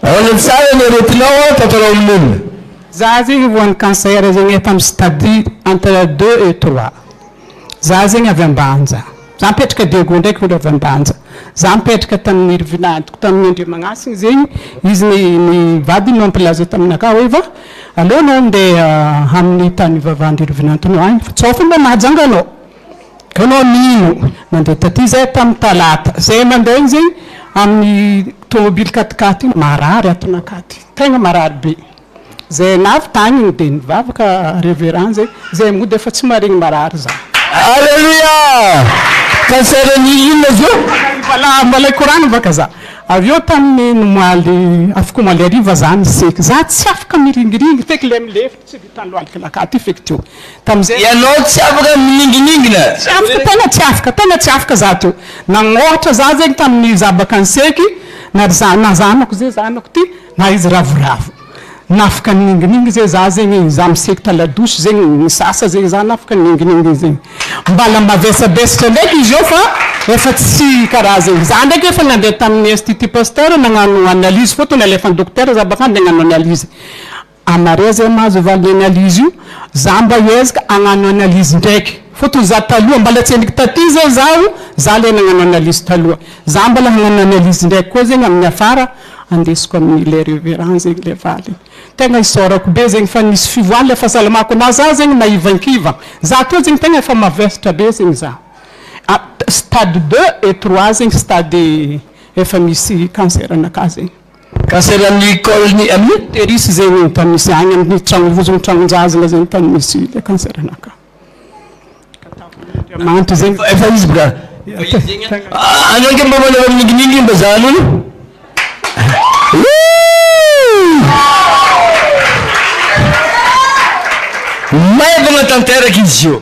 Ahoana tsara ny aretinao an tantaraho amin'olona. Za zegny voan'ny cancer zegny efa amin'ny stade entre deux et trois za zegny avy ambanja za mipetraka diego ndraiky olo avy ambanja za mipetraka tamin'ny vinantoko tamin'ny andriamagnasigny zegny izy ny ny vadiny no mpilaza taminakah hoe va aleo anao ndeha amin'ny tany ivavahan-dry rovinantonao any fa tsao fô mba mahajanga anao Ianao mino nandeha taty izay tamin'ny talata izay mandeha iny izay amin'ny tomobily quat-quatre iny marary ato Nakady tegna marary be izay navy tany iny dia nivavaka reverend izay izay mody efa tsy maregny marary za. Aleloia! Cancer an'ny inona izy io? Mbola mbola hikorana baka za avy eo tamin'ny omaly afaka omaly hariva za niseky za tsy afaka miringiringy feky le milefa. Tsy vitan'ny lohalika makà ity feky teo tamin'izay. Ianao tsy afaka mininginingina. Tsy afaka, tena tsy afaka, tena tsy afaka za teo. Nagnôhatra za zegny tamin'ny za baka niseky, na ry za, na zanako ze zanako ty, na izy ravoravo. Nafaka nininginingy ze za zegny, za miseky ta la douche zegny, nisasa zegny za nafaka nininginingy zegny. Mbala mavesabesatra ndraiky izy eo fa efa tsy karaha zegny. Za ndraiky efa nandeha tamin'ny institut Pasteur nagnano analyse fô to nalefan-dokotera za baka an de hagnano analyse. Anareo zay mahazo valiny analyse io, za mba hiezaka hagnano analyse ndraiky fa toy za taloha mbala tsy henoko taty zay zaho, za le nagnano analyse taloha, za mbala hagnano analyse ndraiky koa zegny amin'ny afara andesiko amin'ny le reverend zegny le valiny. Tegna isaorako be zegny fa nisy fivoahan'ny le fahasalamako na za zegny na ivankiva za tô zegny tegna efa mavesatra be zegny za. Stade deux et trois zegny stade efa misy cancer anakahy zegny. Cancer amin'ny col ny amin'ny uterus izay hoy ny tany misy agny amin'ny tragno vozony tragnonjazana zay ny tany misy le cancer naka ka tamin'ny Andriamanitra zay no Efa izy boka Anao ange mba manao maninginingy mba za an'olo Maivagna tanteraka izy io.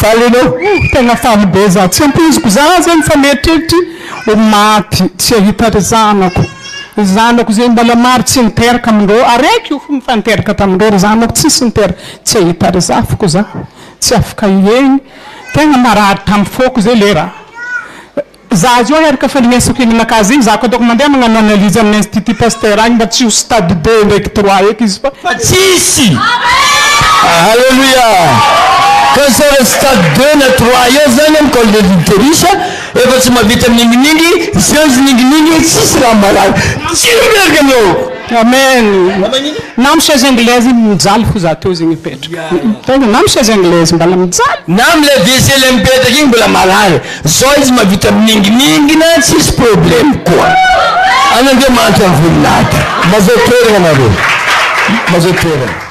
Faly enao oh tegna faly be za tsy ampoiziko za zany fa mieritreritra ho maty tsy hahita ry zanako ry zanako zay mbala maro tsy niteraka amindreo araiky io fo efa niteraka tamindreo ry zanako tsisy niteraka tsy hahita ry zafiko za tsy afaka hiegny tegna marary tam foko zay le raha Za azy io aheriko fa le miansoky ny maka azy igny za koa ataoko mandeha magnano analyse amin'ny institut Pasteur agny mba tsy ho stade deux ndraiky trois eky izy fa tsisy Alléluia! Ka sao le stade deux na trois eo zany amin'ny col de l'utérus efa tsy mahavita mininginingy, zianzy ninginingy tsisy raha marary. Tsy miverika ny lohako. Amen! Na am chaise anglaise igny mijaly fo za teo zegny mipetraka. Tena na am chaise anglaise mbala mijaly. Na am le WC le mipetraka igny mbola marary. Zao izy mavita mininginingina tsisy problème koa an Andriamanitra ny voninahitra. Mazao toerana nareo mazao toerana.